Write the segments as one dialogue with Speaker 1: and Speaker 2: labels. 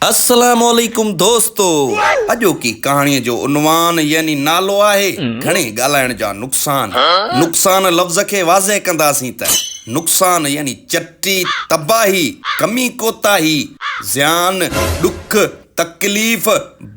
Speaker 1: السلام عليڪم دوستو اڄوڪي ڪهاڻي جو عنوان يعني نالو آهي گهڻي ڳالهائڻ جا نقصان نقصان لفظ کي واضح ڪنداسين ته نقصان يعني چٽي تباهي ڪمي ڪوتاهي زيان ڏک تڪليف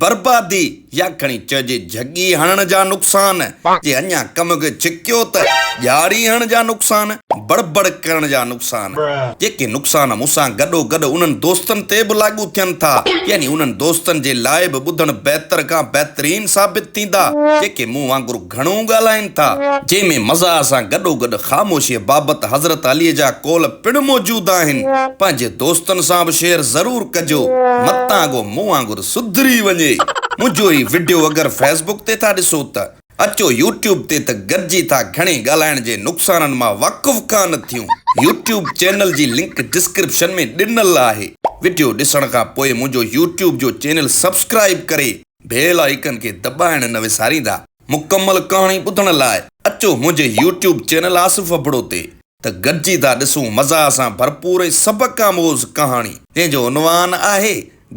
Speaker 1: بربادي يا کڻي چئجي جهڳي هڻڻ جا نقصان، جي اڃا ڪم به ڇڪيو ته ڄاڙي هڻڻ جا نقصان، بڙ بڙ ڪرڻ جا نقصان، جيڪي نقصان مون سان گڏو گڏ انهن دوستن تي به لاڳو ٿين ٿا، يعني انهن دوستن جي لاء به ٻڌڻ بهتر کان بهترين ثابت ٿيندا، جيڪي مون وانگر. گهڻو ڳالهائين ٿا، جنهن ۾ مزاح سان گڏوگڏ خاموشيء بابت حضرت عليء جا قول پڻ موجود آهن. پنهنجي دوستن سان به شيئر ضرور ڪجو، متان اڳو مون وانگر سڌري وڃي. منهنجو هي وڊيو اگر فيس بڪ تي ٿا ڏسو ته اچو يوٽيوب تي ته گڏجي ٿا گهڻي ڳالهائڻ جي نقصانن مان واقف ڪانه ٿيون. يوٽيوب چينل جي لنڪ ڊسڪرپشن ۾ ڏنل آهي. وڊيو ڏسڻ کان پوء منهنجو يوٽيوب جو چينل سبسڪرائيب ڪري بيل آئيڪن کي دٻائڻ نه وساريندا. مڪمل ڪهاڻي ٻڌڻ لاء اچو منهنجي يوٽيوب چينل آصف ابڙو تي ته گڏجي ٿا ڏسون مزاح سان ڀرپور ۽ سبق آموز ڪهاڻي جنهن جو عنوان آهي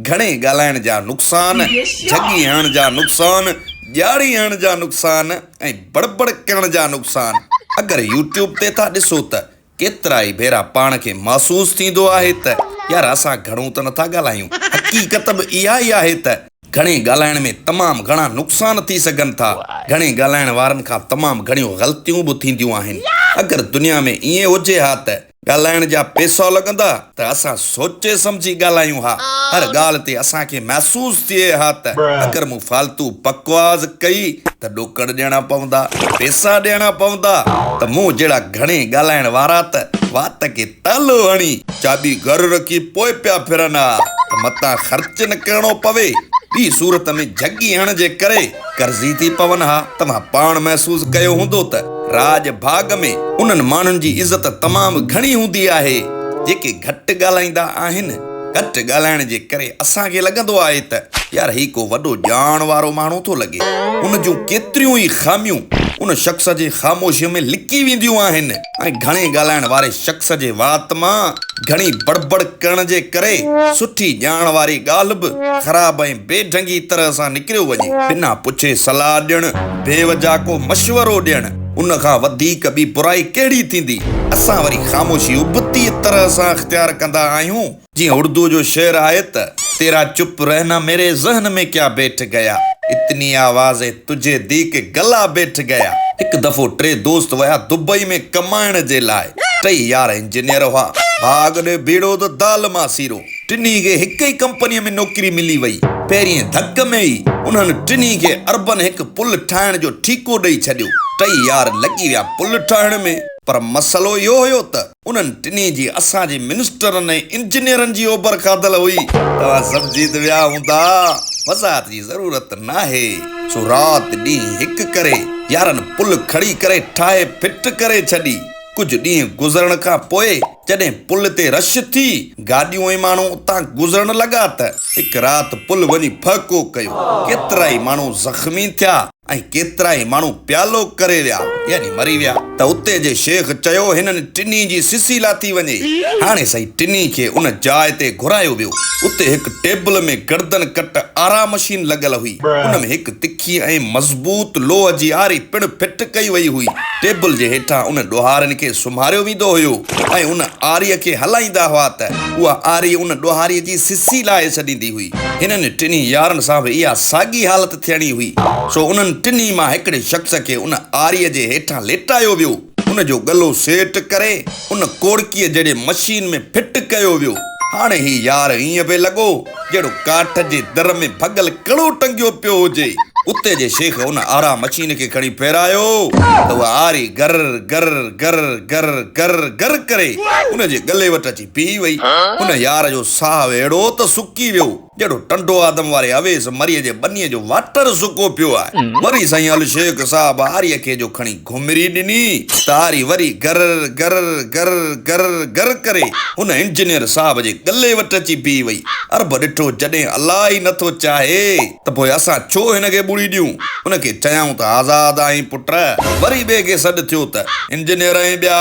Speaker 1: گهڻي ڳالهائڻ جا نقصان، جهڳي هڻڻ جا نقصان، ڄاڙي هڻڻ جا نقصان ۽ بڙبڙ ڪرڻ جا نقصان اگر يوٽيوب تي ٿا ڏسو ته ڪيترائي ڀيرا پاڻ کي محسوس ٿيندو آهي ته يار اسان گهڻو ته نٿا ڳالهايون. حقيقت به اها ئي آهي ته گهڻي ڳالهائڻ ۾ تمام گهڻا نقصان ٿي سگهن ٿا. گهڻي ڳالهائڻ وارن کان تمام گهڻيون غلطيون به ٿينديون آهن. اگر دنيا ۾ ائين هجي ها ته ڳالهائڻ جا پئسا لڳندا ته اسان سوچي سمجهي ڳالهايون ها، هر ڳالهه تي اسان کي محسوس ٿئي ها ته اگر مون فالتو بڪواس ڪئي ته ڏوڪڙ ڏيڻا پوندا، پئسا ڏيڻا پوندا ته مون جهڙا گهڻي ڳالهائڻ وارا ته وات کي تالو هڻي چاٻي گهر رکي پوء پيا ڦرن ها ته متان خرچ نه ڪرڻو پوي، ٻي صورت ۾ جهڳي هڻجي ڪري. قرضي ٿي پون ها. توهان پاڻ محسوس ڪيو هوندو ته راڄ ڀاڳ ۾ انهن ماڻهن جي عزت تمام گهڻي هوندي آهي، جيڪي گهٽ ڳالهائيندا آهن. گهٽ ڳالهائڻ جي ڪري اسان کي لڳندو آهي ته يار هي ڪو وڏو ڄاڻ وارو ماڻهو ٿو لڳي. ان جون ڪيتريون ئي خاميون ان شخص جي خاموشيء ۾ لڪي وينديون آهن. ۽ گهڻي ڳالهائڻ واري شخص جي وات مان گهڻي بڙبڙ ڪرڻ جي ڪري سٺي ڄاڻ واري ڳالهه به خراب ۽ بي ڍنگي طرح سان نڪريو وڃي. بنا پڇي صلاح ڏيڻ، بي وجهه ڪو مشورو ڏيڻ، ان کان وڌيڪ ٻي برائي ڪهڙي ٿيندي؟ اسان وري خاموشي ابتي طرح سان اختيار ڪندا آهيون. جيئن اڙدوء جو شعر آهي ته. تيرا چپ رهنا ميري ذهن مين ڪيا بيٺ گيا اتني آواز هي تجهي دي ڪي گلا بيٺ گيا. هڪ دفعو ٽي دوست ويا دبئي ۾ ڪمائڻ جي لاء ٽئي يار انجنيئر هئا ڀاڳ ڏي ڀيڙو ته دال مان سيرو ٽنهي کي هڪ ئي ڪمپنيء ۾ نوڪري ملي وئي پهرينء ڌڪ ۾ ئي انهن ٽنهي کي اربن هڪ پل ٺاهڻ جو ٺيڪو ڏئي ڇڏيو ٽئي يار لڳي ويا پل ٺاهڻ ۾ پر مسئلو اهو هيو ته انهن ٽنهي جي اسان جي منسٽرن ۽ انجنيئرن جي اوبر کاڌل هئي. توهان سمجهي ته ويا هوندا، وضاحت جي ضرورت ناهي، سو رات ڏينهن هڪ ڪري، يارن پل کڙي ڪري ٺاهي ڦٽ ڪري ڇڏي. ڪجهه ڏينهن گذرڻ کان پوء جڏهن پل تي رش ٿي، گاڏيون ۽ ماڻهو اتان گذرڻ لڳا ته هڪ رات پل وڃي ڦهڪو ڪيو، ڪيترائي ماڻهو زخمي ٿيا. ۽ ڪيترائي ماڻهو پيالو ڪري ويا يعني مري ويا ته اتي جي شيخ چيو هنن ٽنهي جي سسي لاٿي وڃي. هاڻي سائين ٽنهي کي ان جاء تي گهرايو ويو. اتي هڪ ٽيبل ۾ گردن ڪٽ آرا مشين لڳل هئي. ان ۾ هڪ تکي ۽ مضبوط لوهه جي آري پڻ فٽ ڪئي وئي هئي. ٽيبل جي هيٺان ان ڏوهارين کي سمهاريو ويندو هيو ۽ ان آري کي هلائيندا هئا ته اها آري ان ڏوهاري جي سسي لاهي ڇڏيندي هئي. هنن ٽنهي يارن سان به اها ساڳي حالت ٿيڻي هئي، سو انهن ٽنهي مان هڪڙي شخص کي ان آريء جي هيٺان ليٽايو ويو، ان جو ڳلو سيٽ ڪري ان ڪوڙڪيء جهڙي مشين ۾ فٽ ڪيو ويو. هاڻي هي يار ائين پئي لڳو، جهڙو ڪاٺ جي در ۾ ڀڳل ڪڙو ٽنگيو پيو هجي. اتي جي شيخ ان آرا مشين کي کڻي ڦيرايو ته اها آري گر گر گر گر گر گر ڪري ان جي ڳلي وٽ اچي بيهي وئي. ان يار جو ساهه اهڙو ته سڪي ويو. جهڙو ٽنڊو آدم واري اويس مريء جي ٻنيء جو واٽر سڪو پيو آهي. وري سائين الشيخ صاحب آري کي جو کڻي گهمري ڏني ته آري وري گرر گرر گرر گرر گرر ڪري هن انجنيئر صاحب جي ڳلي وٽ اچي بيهي وئي. عرب ڏٺو جڏهن الله ئي نه ٿو چاهي ته پوء اسان ڇو هن کي ٻوڙي ڏيون. هن کي چيائون ته آزاد آهين پٽ. وري ٻئي کي سڏ ٿيو ته انجنيئر ۽ ٻيا.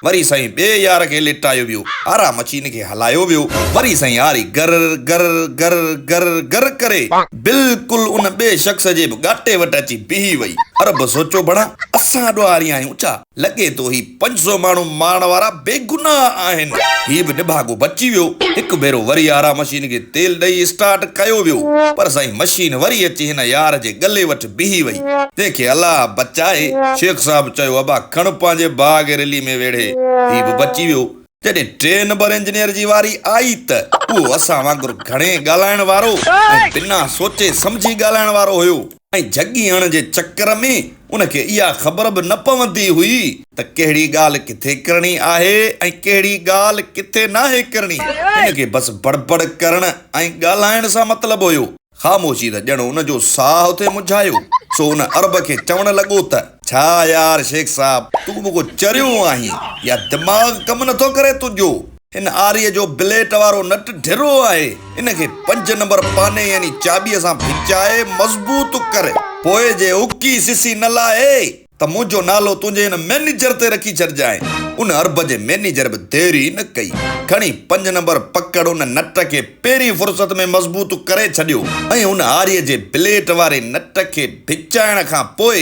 Speaker 1: وري سائين ٻئي يار کي ليٽايو ويو. آرا مچي هن کي. هلايو ويو، وري سائين هاري گرر گرر گرر گرر گرر ڪري بلڪل ان ٻئي شخص جي به ڳاٽي وٽ اچي بيهي وئي. عرب سوچيو ڀڻا اسان ڏوهاري آهيون ڇا؟ لڳي ٿو هي پنج سؤ ماڻهو مارڻ وارا بيگناهه آهن. هي به نڀاڳو بچي ويو. هڪ ڀيرو وري آرا مشين کي تيل ڏئي اسٽارٽ ڪيو ويو، پر سائين مشين وري اچي هن يار جي ڳلي وٺ بيهي وئي، جنهن کي الله بچائي. شيخ صاحب چيو ابا کڻ پنهنجي ڀاء کي رلي ۾ ويڙهي. هي به بچي ويو. جڏهن ٽئين نمبر انجنيئر جي واري آئي ته اهو اسان وانگر گهڻي ڳالهائڻ وارو ۽ بنا سوچي سمجهي ڳالهائڻ وارو هيو ۽ جهڳي هڻڻ جي چڪر ۾ ان کي اها خبر به نه پوندي هئي ته ڪهڙي ڳالهه ڪٿي ڪرڻي آهي ۽ ڪهڙي ڳالهه ڪٿي ناهي ڪرڻي. هن کي بس بڙبڙ ڪرڻ ۽ ڳالهائڻ سان مطلب هيو. خاموشي ته ڄڻ ان جو ساهه ٿئي مجهايو، سو ان عرب کي چوڻ لڳو ته. ڇا يار شيخ صاحب، تون به ڪو چريو آهين يا دماغ ڪم نه ٿو ڪري تنهنجو؟ هن آريء جو بليٽ وارو نٽ ڍرو آهي، ان کي پنج نمبر پاني يعني چاٻيء سان ڀچائي مضبوط ڪر، پوء جي اڪي سسي نه لاهي. ته منهنجو نالو تنهنجي هن مئنيجر تي رکي ڇڏجانء. ان عرب جي مئنيجر به دير ئي نه ڪئي. کڻي پنج نمبر پڪڙ ان نٽ کي پهرين فرصت ۾ مضبوط ڪري ڇڏيو ۽ ان آري جي بليٽ واري نٽ کي ڀچائڻ کان پوء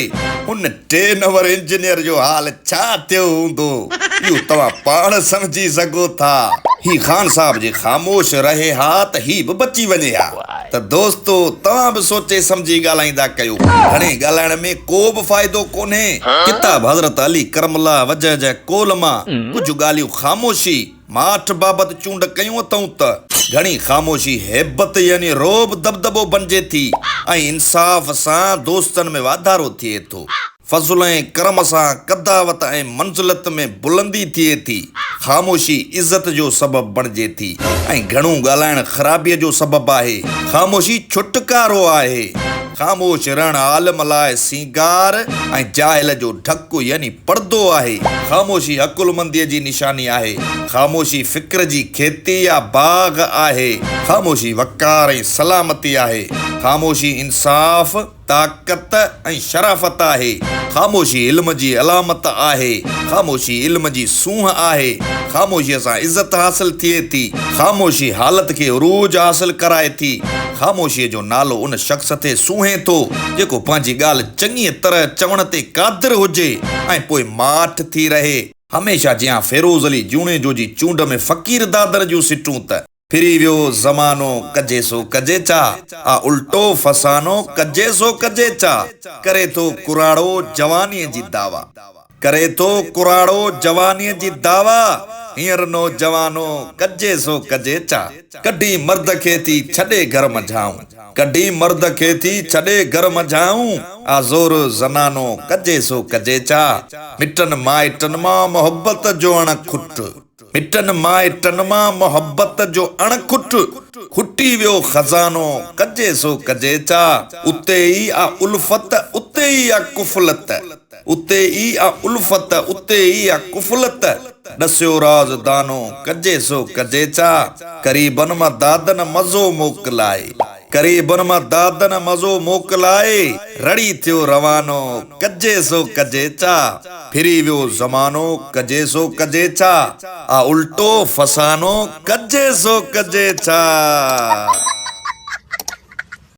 Speaker 1: ان ٽي نمبر انجنيئر جو حال ڇا ٿيو هوندو، اهو توهان پاڻ سمجهي سگهو ٿا. هي خان صاحب جي خاموش رهي ها ته هي به بچي وڃي ها. ته دوستو توهان به سوچي سمجهي ڳالهائيندا ڪيو گهڻي ڳالهائڻ ۾ ڪو به فائدو ڪونهي ڪتاب حضرت علي ڪرم الله وجهه جي قول مان ڪجهه ڳالهيون خاموشي ماٺ بابت چونڊ ڪيون اٿئون ته گهڻي خاموشي هيبت يعني رعب دٻدٻو بنجي ٿي ۽ انصاف سان دوستن ۾ واڌارو ٿئي ٿو. فضل ۽ ڪرم سان قداوت ۽ منزلت ۾ بلندي ٿئي ٿي. خاموشي عزت جو سبب بڻجي ٿي ۽ گهڻو ڳالهائڻ خرابيء جو سبب آهي. خاموشي ڇوٽڪارو آهي. خاموش رهڻ عالم لاء سينگار ۽ جاهل جو ڍڪ يعني پڙدو آهي. خاموشي عقلمنديء جي نشاني آهي. خاموشي فڪر جي کيتي يا باغ آهي. خاموشي وقار ۽ سلامتي آهي. خاموشي انصاف. طاقت ۽ شرافت آهي. خاموشي علم جي علامت آهي. خاموشي علم جي سونهن آهي. خاموشيء سان عزت حاصل ٿئي ٿي. خاموشي حالت کي عروج حاصل ڪرائي ٿي. خاموشيء جو نالو ان شخص تي سونهين ٿو، جيڪو پنهنجي ڳالهه چڱيء طرح چوڻ تي قادر هجي ۽ پوء ماٺ ٿي رهي. هميشه جيان فيروز علي جوڻيجو جي چونڊ ۾ فقير دادر جون سٽون ته. ڦري ويو زمانو ڪجي سو ڪجي چا آ الٽو فسانو ڪجي سو ڪجي چا ڪري ٿو ڪراڙو جوانيء جي دعويٰ ڪري ٿو ڪراڙو جوانيء جي دعويٰ هينئر نوجوانو ڪجي سو ڪجي چا ڪڍي مرد کي ٿي ڇڏي گهر منجهائون ڪڍي مرد کي ٿي ڇڏي گهر منجهائون آ زور زنانو ڪجي سو ڪجي چا مٽن مائٽن مان محبت جو اڻ کٽ. مٽن مائٽن مان محبت جو اڻ کٽ کٽي ويو خزانو ڪجي سو ڪجي ڇا اتي ئي آ الفت اتي ئي آ ڪفلت اتي ئي آ الفت اتي ئي آ ڪفلت ڏسيو راز دانو ڪجي سو ڪجي ڇا قريبن مان دادن مزو موڪلائي. ڪري بن مان دادن مزو موڪلائي رڙي ٿيو روانو ڪجي سو ڪجي ڇا ڦري ويو زمانو ڪجي سو ڪجي ڇا آ الٽو فسانو ڪجي سو ڪجي ڇا.